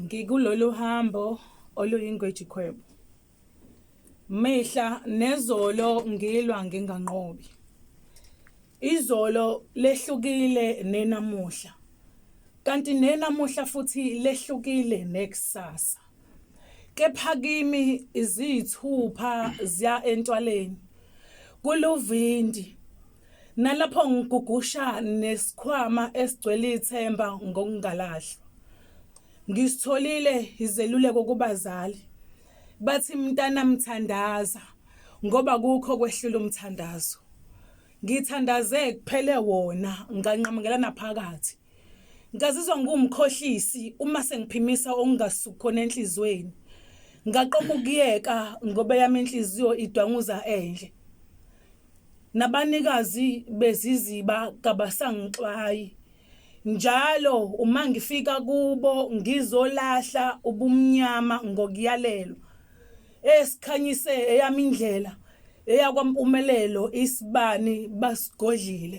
ngikulolu hambo oluyingwejikhwebo mihla nezolo ngilwa nginganqobi izolo lehlukile nenamuhla kanti nenamuhla futhi lehlukile nekusasa kepha kimi iziyithupha ziya entwaleni kuluvindi nalapho ngigugusha nesikhwama esigcwele ithemba ngokungalahlwa ngisitholile izeluleko kubazali bathi mntana mthandaza ngoba kukho kwehlula umthandazo ngithandaze kuphele wona nganqamukelana phakathi Ngazizwa ngiwumkhohlisi uma sengiphimisa okungasuki khona enhliziyweni. Ngaqoma ukuyeka ngoba yami inhliziyo idwanguza endle. Nabanikazi beziziba kabasangixwayi. Njalo uma ngifika kubo ngizolahla ubumnyama ngokuyalelwa. Esikhanyise eyami indlela eyakwampumelelo isibani basigodlile.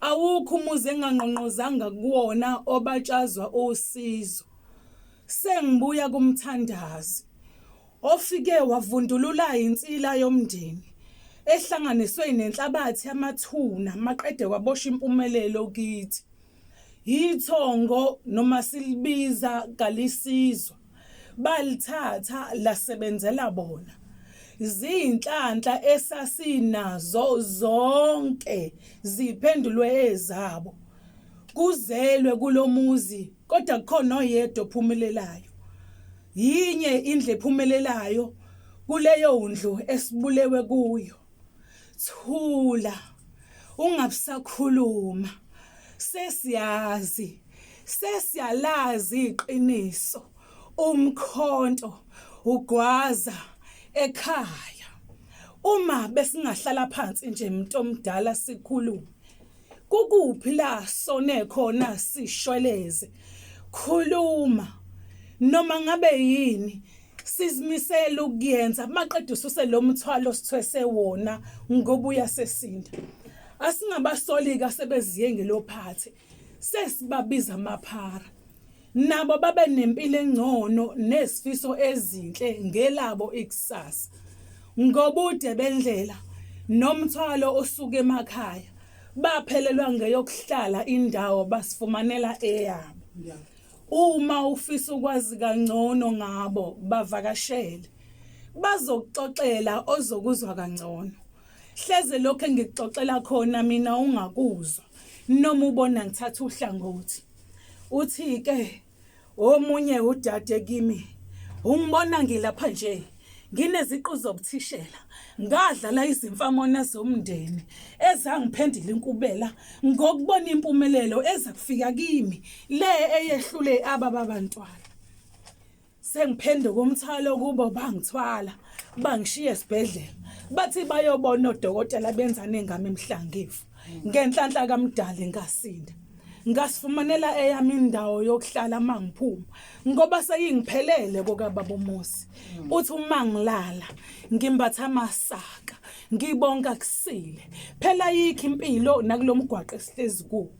Awukho umuzi engangqongqozanga kuwona obatshazwa usizo. Sengibuya kumthandazi ofike wavundulula insila yomndeni ehlanganiswe nenhlabathi yamathuna maqede kwabosha impumelelo kithi. Yithongo noma silibiza kalisizwa. balithatha lasebenzela bona ziyinhlanhla esasinazo zonke ziphendulwe ezabo kuzelwe kulomuzi kodwa kukhona oyedwa ophumelelayo yinye indle ephumelelayo kuleyo ndlu esibulewe kuyo thula ungabisakhuluma sesiyazi sesiyalazi iqiniso umkhonto ugwaza ekhaya uma besingahlala phansi nje umuntu omdala sikhulume Kukuphi la sone khona sishweleze? Khuluma. Noma ngabe yini sizimisele ukuyenza maqede ususe lo mthwalo sithwese wona ngoba uyasesinda. Asingabasolika sebeziye ngelophathe. Sesibabiza amaphara. Nabo babe nempilo engcono nezifiso ezinhle ngelabo ikusasa. Ngobude bendlela nomthwalo osuke emakhaya baphelelwa ngeyokuhlala indawo basifumanela eyabo. Uma ufisa ukwazi kangcono ngabo bavakashele bazokuxoxela ozokuzwa kangcono. Hleze lokho engikuxoxela khona mina ungakuzwa noma ubona ngithatha uhlangothi. Uthi-ke omunye udade kimi, ungibona ngilapha nje ngineziqu zobuthishela ngadlala izimfamona zomndeni ezangiphendula inkubela ngokubona impumelelo eza kufika kimi le eyehlule ababa bantwana. sengiphenduka umthwalo kubo bangithwala bangishiye esibhedlela bathi bayobona odokotela benza nengama emhlangivu ngenhlanhla kamdali ngasinda ngasifumanela eyami indawo yokuhlala uma ngiphuma ngoba seyingiphelele kokababa umusi uthi uma ngilala ngimbatha amasaka ngibonga kusile phela yikho impilo nakulomgwaqo esihlezi kuwo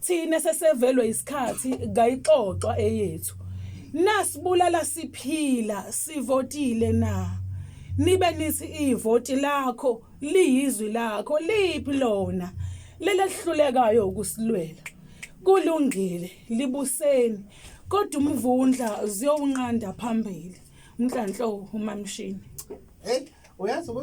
thina sesevelwe isikhathi kayixoxwa eyethu nasibulala siphila sivotile na nibe nithi ivoti lakho liyizwi lakho liphi lona lelehlulekayo ukusilwela kulungile libuseni kodwa umvundla ziyowunqanda phambili mnhlanhlo umamshini hey uyazi